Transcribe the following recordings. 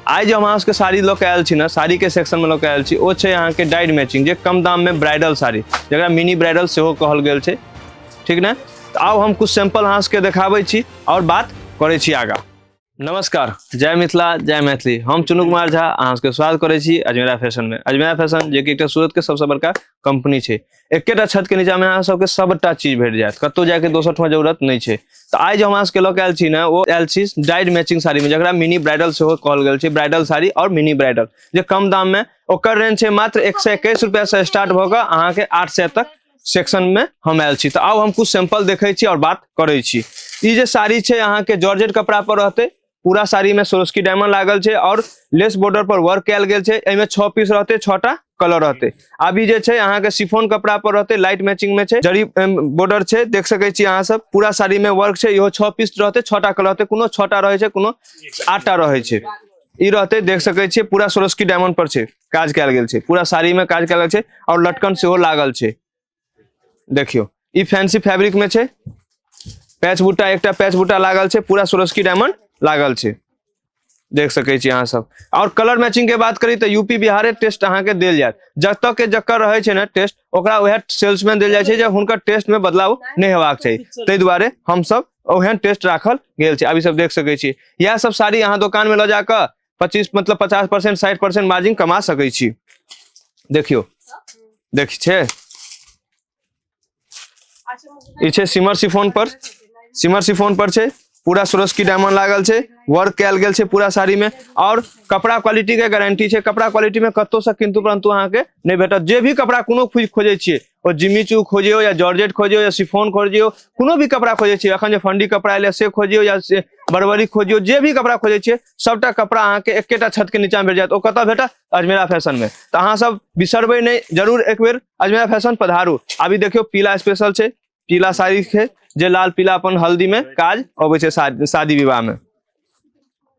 आइ जे हम अहाँ सबके साड़ी लऽ के आयल छी ने साड़ीके सेक्शनमे लऽ के आयल छी ओ छै अहाँके डाइड मैचिंग जे कम दाममे ब्राइडल साड़ी जकरा मिनी ब्राइडल सेहो कहल गेल छै ठीक ने तऽ आउ हम कुछ सैंपल अहाँ सबके देखाबै छी आओर बात करै छी आगाँ नमस्कार जय मिथिला जय मैथिली हम चुनू कुमार झा अहाँ सबके स्वागत करै छी अजमेरा फैशनमे अजमेरा फैशन जे कि एकटा सूरतके सबसँ बड़का कंपनी छै एकेटा छत के नीचा में अहाँ सबके सबटा चीज भेट जायत कतौ जाके दोसर ठमा जरूरत नहीं छै तऽ आइ जे हमरा सबके लऽ के आयल छी ने ओ आयल छी डाइड मैचिंग साड़ी में जकरा मिनी ब्राइडल सेहो कहल गेल छै ब्राइडल साड़ी और मिनी ब्राइडल जे कम दाम में ओकर रेंज छै मात्र एक सौ एकैस रुपया से स्टार्ट भऽ कऽ अहाँके आठ सौ तक सेक्शन में हम आयल छी तऽ आउ हम कुछ सैंपल देखै छी और बात करै छी ई जे साड़ी छै अहाँके जॉर्जेट कपड़ा पर रहतै पूरा साड़ी में सोरस्की डायमंड लागल छै और लेस बॉर्डर पर वर्क कयल गेल छै एहिमे छह पीस रहते छह टा कलर रहते अभी जे छै अहाँ के सिफोन कपड़ा पर रहते लाइट मैचिंग में छै जरी बॉर्डर छै देख सके छी अहाँ सब पूरा साड़ी में वर्क छै इहो छह पीस रहते छह टा कलर रहते कोनो छह टा रहे छै कोनो आठ टा रहे छै ई रहते देख सके छी पूरा सोरस्की डायमंड पर छै काज कयल गेल छै पूरा साड़ी में काज कयल गेल छै और लटकन सेहो लागल छै देखियो ई फैंसी फैब्रिक में छे पैच बुट्टा एकटा पैच बुट्टा लागल छे पूरा सुरस्की डायमंड लागल छे देख सके छी अहाँ सब और कलर मैचिंग के बात करी तो यूपी बिहारे टेस्ट अहाँ के दिल जाए जब तक के जकर रहे छे ना टेस्ट ओकरा वह सेल्समैन दिल जाए छे जे हुनकर टेस्ट में बदलाव नहीं हेबाक चाहिए ते दुआरे हम सब ओहन टेस्ट राखल गेल छे अभी सब देख सके छी यह सब साड़ी अहाँ दुकान में ल जाकर पच्चीस मतलब पचास परसेंट साठि परसेंट मार्जिन कमा सकै छी देखियौ देखै छै ई छै सिमर सिफोन पर सिमर सिफोन पर छै पूरा सुरस्की डायमंड लागल छै वर्क कयल गेल छै पूरा साड़ी में और कपड़ा क्वालिटी के गारंटी छै कपड़ा क्वालिटी में कतौ से किंतु परंतु अहाँ के नहीं भेटत जे भी कपड़ा कोनो खोज खोजे छियै ओ जिमी चू खोजियो या जॉर्जेट खोजियो या सिफोन खोजियो कोनो भी कपड़ा खोजे छियै अखन जे फंडी कपड़ा एलै से खोजियो या से बरबरी खोजियो जे भी कपड़ा खोजे छियै सबटा कपड़ा अहाँके एकेटा छत के नीचा भेट जायत ओ कतऽ भेटत अजमेरा फैशन में तऽ अहाँ सब बिसरबै नहि जरूर एक बेर अजमेरा फैशन पधारू अभी देखियो पीला स्पेशल छै पीला साड़ी छै जे लाल पीला अपन हल्दी में काज अबै छै शादी शादी विवाह में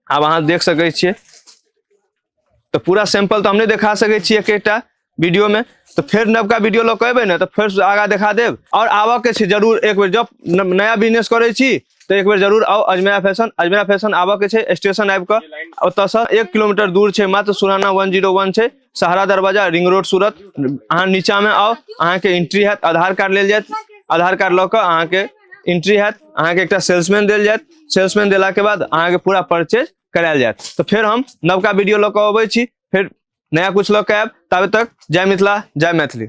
आब अहाँ देख सकै छियै तो पूरा सैंपल तो हम नहीं देखा सके छी एक एकटा वीडियो में तो फिर नवका वीडियो लऽ कऽ एबै ने तऽ फेर आगा देखा देब और आबऽ के छै जरूर एक बेर जब न- नया बिजनेस करै छी तो एक बेर जरूर आओ अजमेरा फैशन अजमेरा फैशन आबऽ के छै स्टेशन आबि कऽ ओतऽसँ एक किलोमीटर दूर छै मात्र सुराना वन जीरो वन छै सहारा दरवाजा रिंग रोड सूरत अहाँ नीचाँमे आउ अहाँके एंट्री हैत आधार कार्ड लेल जायत आधार कार्ड लऽ कऽ अहाँके एंट्री हैत अहाँके एकटा सेल्समैन देल जायत सेल्समैन देलाके बाद अहाँके पूरा परचेज करायल जायत तऽ फेर हम नवका वीडियो लऽ कऽ अबै छी फेर नया कुछ लऽ कऽ आयब ताबे तक जय मिथिला जय मैथिली